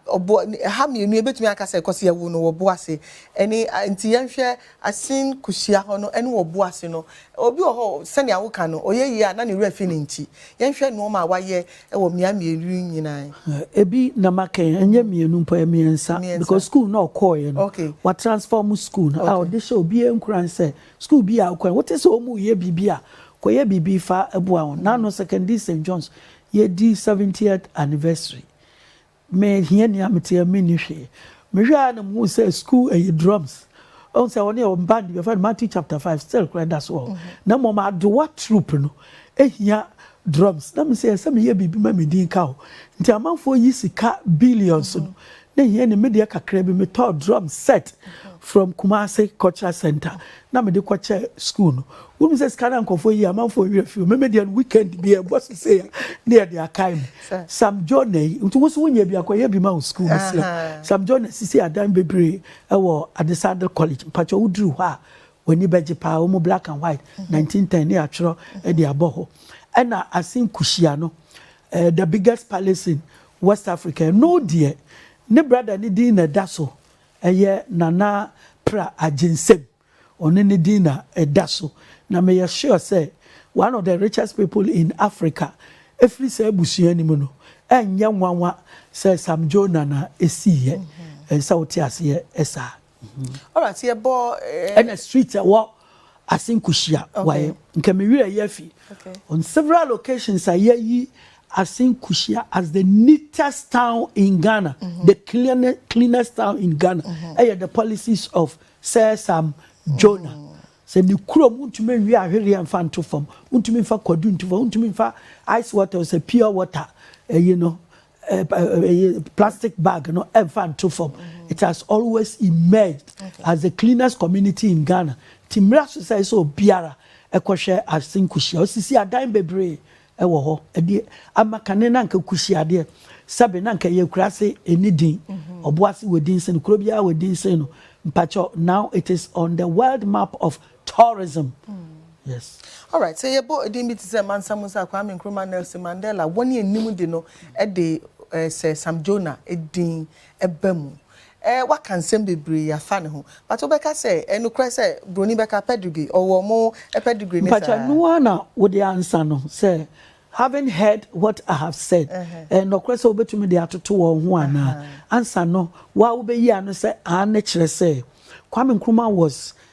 Ɔbo ha mmienu ebetumi aka sɛ kɔsi ɛwo no wɔ Boase. Ɛne nti yɛnhwɛ Asin Kusia hɔ no ɛne wɔ Boase no. Obi wɔ hɔ sɛnea woka no ɔyɛ yie a na ne werɛ fi ne nti. Yɛnhwɛ nnoɔma a wayɛ ɛwɔ mmea mmienu yi nyinaa. Ebi na maka yi ɛnyɛ mmienu mpo ɛyɛ mmiɛnsa because school na ɔkɔɔɛ no wa transform school no a ɔde hyɛ obiara nkuran sɛ Sukuu bi a wokɔe, wote sɛ wɔreyɛ biribi a, kɔyɛ biribi fa boa wɔn. N'ano Secondary St. John's, yɛredi seventieth anniversary. Me hiani a mete a menni hwee. Mehwɛ ara na muhu sɛ sukuu ɛyɛ drums. Ɔhu sɛ wɔne wɔn band bɛfɛ no Matthew chapter five still kora ɛda so wɔ hɔ. Na mmom adowa troop no ehia drums. Na mesɛ ɛsɛ meyɛ biribi ma me din ka hɔ. Nti amanfoɔ yi sika billions no Na hia ni, me deɛ kakra bi me tɔɔ drum set from Kumasi cultural center na me de kɔ kyɛ school no. Wo nim sɛ sika na nkorɔfoɔ yi amanfoɔ werɛ fi o, me me deɛ no weekend bi yɛ bɔ sesei a na yɛ de akae me. Sam Jonah yi, nti wo nso wo nyɛ bi a kɔ yɛ bi ma wo school me srɛ wo. Sam Jonah sisi adan bebree ɛwɔ Adesadel college, mpakyɛw wo duru hɔ a w'ani bɛgye paa, wɔn black and white 1910 na yɛatwerɛ de abɔ hɔ. Ɛna Asin Kushia no, Eh, the biggest palace in West Africa, ɛno deɛ ne brother ne din na ɛda so, ɛyɛ Nana Pra Agyensem, ɔne ne din na ɛda so, na meyɛ sure sɛ one of the richest people in Africa ɛfiri saa abusua no mu no, ɛnyɛ nwanwa sɛ Sam Jonah na ɛsiiɛ, ɛsɛ sɛ wote aseɛ saa. ɛna street ɛwɔ ase nkuhyia wae nka me werɛ yɛ fi on several locations a yɛyi ase nkuhyia as the neatest town in Ghana mm-hmm. the cleanest, cleanest town in Ghana mm-hmm. ɛyɛ the policies of Sir Sam Jonah mm-hmm. sɛ ne kurom wontumi nwie ahwereɛ mfa nto fam wontumi mfa kwadu nto fam wontumi mfa ice water sɛ pure water ɛyi no plastic bag no ɛmfa nto fam it has always emerged as the cleanest community in Ghana ti mmira so sɛ ɛsɛ obiara ɛkɔhwɛ ase nkuhyia osisi adan bebree ɛwɔ hɔ ɛde ama kane na nka kuhyiadeɛ sɛbe na nka yɛ kura ase ɛni din ɔbo ase wɔ din sen kuro biara wɔ din sen no mpakyɛ now it is on the world map of tourism yes. Alright sɛ yɛbɔ edin bi te sɛ Mansa Musa, Kwame Nkrumah, Nelson Mandela, wɔn a ɛnim de no de sɛ Sam Jonah edin ɛba mu. Eh waka nsɛm bebree afa ne ho but wobɛka sɛ ɛnokorɛ sɛ broni bɛka pedigree ɔwɔ ɔmo pedigree ne saa. Mpakyɛ ɛno ara na wode ansa no sɛ having heard what I have said ɛyɛ nɔkorɛ sɛ wobɛtumi de atoto wɔn ho anaa ansa no wo ara wobɛyi ano sɛ aane kyerɛ sɛ Kwame Nkrumah was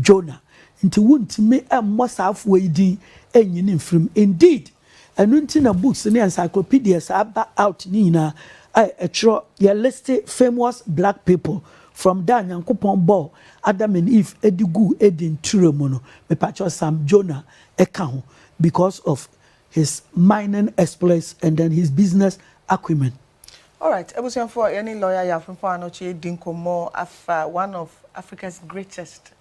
Jonah, nti wontumi mmɔ saa afoa yi din nnyi ne mfiri mu. Indeed, ɛno nti na books ne encyclopedias a aba out no nyinaa a ɛtwerɛ, yɛ liste famous black people from da a Nyankopɔn bɔɔ Adam and Eve de guu Eden ture mu no, mepakyɛw, Sam Jonah ka ho because of his mining exploits and then his business acumen. Alright abusuafoɔ yɛne lawyer Yaw Frimpong Anokye adi nkɔmmɔ afa one of Africa's greatest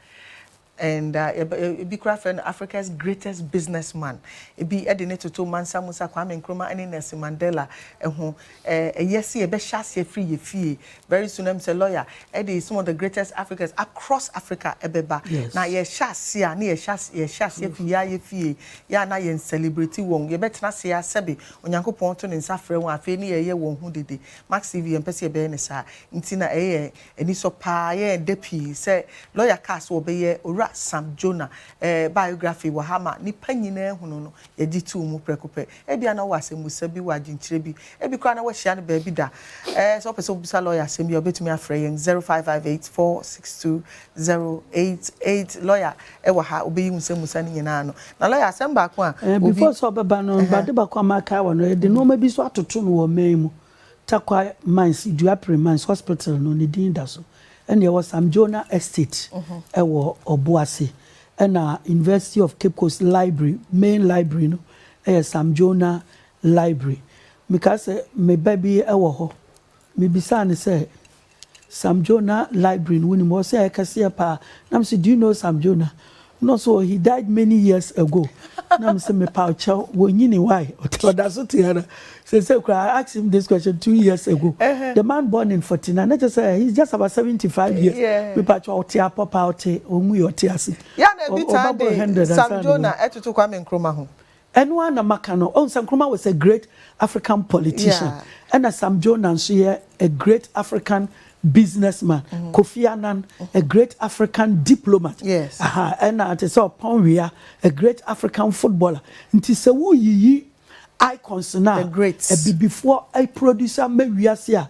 and ebi koraa frɛ no Africa's greatest business man ebi de no toto Mansa Musa, Kwame Nkrumah ne Nelson Mandela ho Ɛyɛ sɛ yɛbɛhyɛ aseɛ firi yɛn fie very soon ɛm sɛ lawyer de some of the greatest Africans across Africa bɛba na yɛhyɛ aseɛ a na yɛhyɛ aseɛ firi yɛa yɛfie yɛa na yɛn celebrate wɔn yɛbɛtena ase a sɛbe Onyankopɔn to ne nsa frɛ wɔn a, afei ne yɛyɛ wɔn ho dede. Max TV, yɛmpɛ sɛ yɛbɛyɛ no saa nti na ɛyɛ yɛn anisɔ paa. Ɛyɛ yɛn dɛ pii sɛ lɔya kaa sɛ wɔbɛyɛ Owura Sam Jonah biography wɔ ha ma nnipa nyinaa ahu no no, yɛgye too mu prɛko pɛ. Ebia na ɔwɔ asɛmmisa bi, ɔwɔ adwenkyerɛ bi, ebi koraa na wahyia no baabi da. Sɛ wopɛ sɛ wobisa lɔya asɛm bi a, wobɛtumi afrɛ yɛn 0558 462 088. Lɔya Ɛwɔ ha, obeyi wo nsɛm mu sa no nyinaa ano. Na lɔya, asɛm baako a obi. Before sɛ ɔbɛba no, ade baako a makae wɔ no, yɛde nnoɔma bi nso atoto no wɔ ɔman yi mu. Tarkwa Mines, Duapirem Mines Hospital no, ne din da so. Ɛna yɛwɔ Samdjona Estate wɔ Ɔboase. Ɛna University of Cape Coast Library, main library no yɛ Samdjona Library. Mekaa sɛ me ba bi wɔ hɔ, mebisaa no sɛ. Sam Jonah library no wonim hɔ sɛ ɛkɛseɛ paa na me se do you know Sam Jonah na ɔse oh he died many years ago na me se mepaw kyɛw wɔnyini why ɔda so te ara sese kura I asked him this question two years ago the man born in 49 na kyɛ sɛ he's just about 75 years mepaw kyɛw ɔte apɔ paa ɔte ɔnwui ɔte ase ɔbɛboro 100 ansa na Sam Jonah ɛtoto Kwame Nkrumah ho. Ɛno ara na maka no. Woahu sɛ Nkrumah was a great African politician, ɛna Sam Jonah nso yɛ a great African businessman, Kofi Annan, a great African diplomat, aha, ɛna te sɛ Ɔpɔn Wea, a great African footballer. Nti sɛ woreyiyi icons no a Abibifoɔ producer ma wiase a,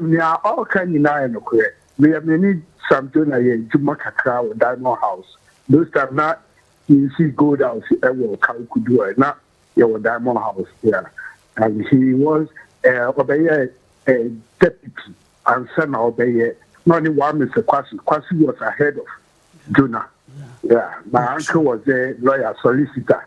Nea ɔreka nyinaa yɛ nokorɛ. Meyɛ me ne Sam Jonah yɛ adwuma kakra wɔ Diamond House. Those time na yɛnsii Gold House wɔ Kawo Kudu ɛ, na yɛwɔ Diamond House yeah. And he was eh, ɔbɛyɛ eh, deputy ansa na ɔbɛyɛ, na ɔne one Mister Kwasi, Kwasi was ahead of Jonah yeah. My uncle was a lawyer, solicitor.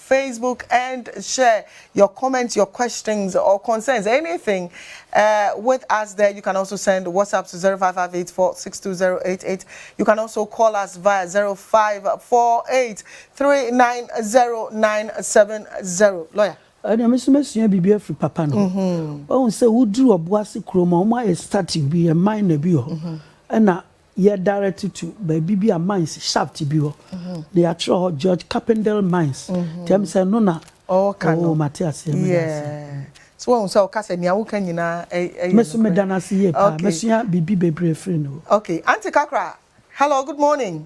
Facebook and share your comments, your questions or concerns, anything uh, with us there. You can also send WhatsApp to 05584620088. You can also call us via 0548390970. Lawyer. ɛna me nso mɛsua biribi afiri papa no ɔhu sɛ woduru ɔbo ase kurom a wɔayɛ statue bi yɛ mine bi hɔ ɛna Yɛ direct to baabi bi a mines shaft bi hɔ na yɛatwerɛ hɔ George Carpendale mines nti ɛm sɛ ɛno na ɔɔka no oh mate aseɛ meda ase. Yeah so wahu sɛ ɔka sɛ nea woka nyinaa ɛyɛ nokorɛ. Me so meda no ase yie paa okay. Masua biribi bebree firi ne hɔ. Okay Auntie Kakra hello good morning.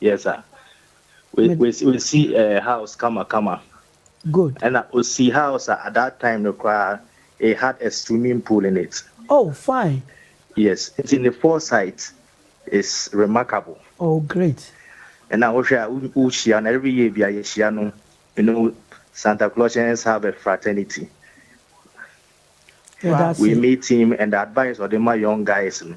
Yes sir. We Mede. we we si eh, house kama kama. Good. Ɛna osi house a at that time no koraa it had a swimming pool in it. Oh fine. Yes nti ne foresight is remarkable. Oh great. Ɛna wohwɛ a wo wo hyia no every year bia yɛ hyia no you know Santa Clausians have a fraternity. Yɛda We ase. meet him and the advice ɔde ma young guys no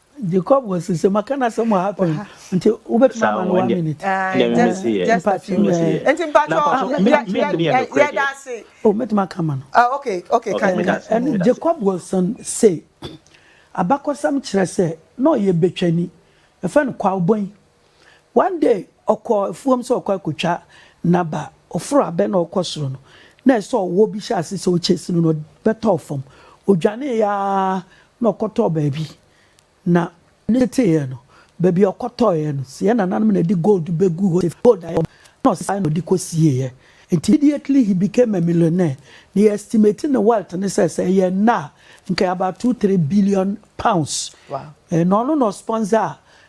Jacob was to say maka na sɛ mo ha pɛn nti wobɛtumi ama no one minute. Just a few words. Nti mpatwɔ yɛda ase. O mɛtumi aka ma no. Okay okay kan mi. Ɛne Jacob was to say abakɔsɛm kyerɛ sɛ na ɔyɛ betwani yɛfrɛ no Kwaubɔn One day ɔkɔɔ afuom sɛ ɔkɔ akotwa naba, ɔforo abɛ na ɔkɔ soro no na ayɛ sɛ ɔwɔ bi hyɛ ase sɛ ɔchase no na ɔbɛtɔɔ fam. Ɔdwanee aa na ɔkɔtɔɔ baabi na ne teteeɛ no, baabi a ɔkɔtɔeɛ no sɛ yɛn nananom na ɛde gold bɛgu hɔ sɛ ɛfiri gold a ɛwɔ fam na ɔsesaeɛ na ɔde kɔsieeɛ. Nti immediately he became a millionaire na yɛ estimate ne wealth no sɛ sɛ ɛyɛ nnɛ a nka ɛyɛ about two, three billion pounds. Wow. Ɛɛ na ɔno na ɔsponsor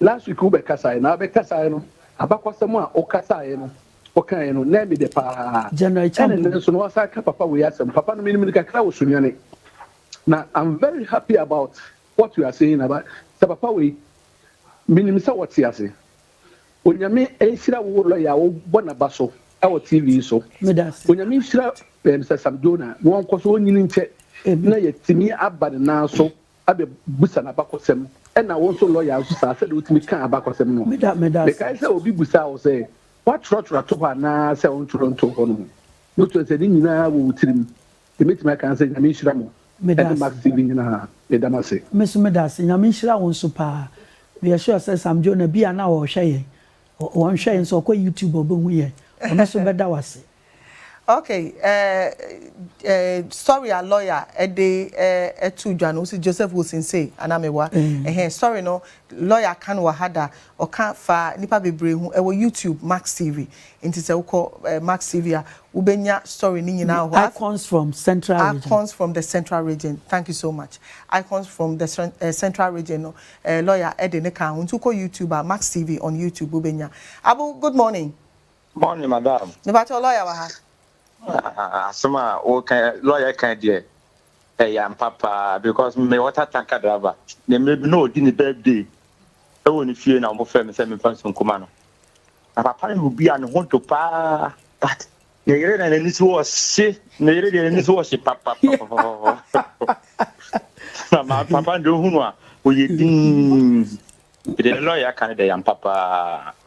Last week wo bɛ kasaɛ na bɛ kasaɛ no abakɔsɛm a wo kasaɛ no wo kaɛ no na ɛmi dɛ paa ɛna ɛnɛ nso no wasan ka papa wei asɛm papa no menim no kakra wɔ sunyani na am very happy about what you are saying na ba sɛ papa wei menim sɛ wɔte ase onyame nhyira wo lɔya a wo bɔ na ba so ɛwɔ tv so onyame nhyira Mr. Sam Jonah na wɔnkɔ so ɔnyini nkyɛ na yɛtumi aba ne nan so abɛbusa no abakɔsɛm, ɛna wo nso lɔya nso saa, sɛdeɛ wotumi kaa abakɔsɛm no. Mekae sɛ obi busaa wo sɛ, Woatwerɛtwerɛ ato hɔ anaa sɛ wontwerɛ ntoo hɔ no ho? Wobɛtumi aka sɛ, Ne nyinaa wɔ wo tirim. Deɛ mɛtumi aka ne sɛ, Nyame nhyira mo, ɛne Mark Steven nyinaa. Meda mo ase. Me nso meda ase. Nyame nhyira wo nso paa. Meyɛ sure sɛ Sam Jonah bi a na ɔrehwɛ yɛn, ɔnhwɛ yɛn nso, ɔkɔ YouTube a ɔbɛhu yɛn. Ɔno nso bɛda wo ase. Okay eh eh story a lawyer de eh too dwa no, wo se Joseph Wosinsei anaa mewa? Ehe, story no lawyer ka no wɔ ha da, ɔka fa nipa bebree ho, ɛwɔ YouTube Max TV, nti sɛ wokɔ eh Max TV a wo bɛnya story no nyinaa wɔ hɔ. The icons from central region. Icons from the central region, thank you so much, icons from the eh central region no eh lawyer de no kaa ho, nti wokɔ YouTube a Max TV on YouTube wo bɛnya. Abu good morning. Morning madam. Mepakyɛw lɔya wɔ ha? Ah, asɛm a woka lɔya ka deɛ ɛyɛ ampa paa because me water tanker driver ne mmerɛ bi na ɔdi ne birthday ɛwɔ ne fie na wɔfrɛ me sɛ memfa nsu nkuma no na papa no yɛ obi a ne ho dwo paa but ne yere na n'ani so ɔhye ne yere deɛ n'ani so ɔhye papapapapapa na ma papa no deɛ ɔhunu a ɔyɛ din deɛ lɔya ka no deɛ yɛ ampa paa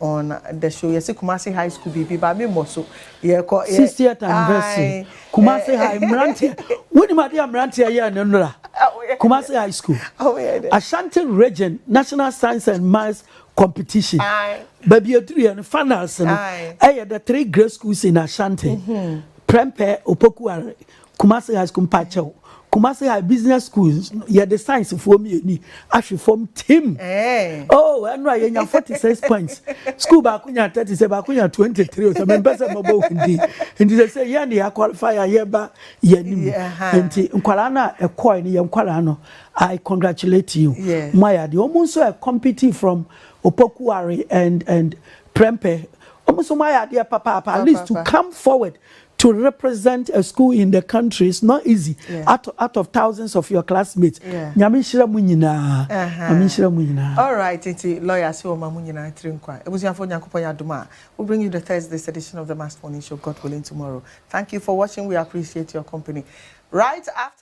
on the show yɛse kumase high school biribi ba me mmɔ so yɛkɔ 60th anniversary kumase eh. high mmeranteɛ wonim adeɛ a mmeranteɛ yɛɛ no nnora kumase high school ashanti region national science and maths competition baabi aduruiɛ no finals no ɛyɛ the three great schools in ashanti mm-hmm. prempeh opokuare Kumasi High School mpakyɛw Kumasi High Business School no yɛde science foɔ mmieni ahwe fam tim oh ɛno a yɛnya 46 points school baako nya 30 sɛ baako nya 23 sɛ mempɛ sɛ mɛbɔ wo din nti sɛ sɛ yɛn de yɛaqualify a yɛba yɛanim nti nkwaraa no a ɛkɔe no yɛ nkwaraa no I congratulate you mo ayɛ adeɛ wɔn nso ɛ compete from Opokuwari and and Prempeh wɔn nso mo ayɛ adeɛ papaapa at least to come forward To represent a school in the country is not easy out out of thousands of your classmates Nyame nhyira mo nyinaa Nyame nhyira mo nyinaa. Alright nti lawyer se ɔma mo nyinaa tiri nkwa Abusuafoɔ Nyankopɔn yɛ adom a we bring you the Thursday's edition of the Must Morning Show God willing tomorrow thank you for watching we appreciate your company right after.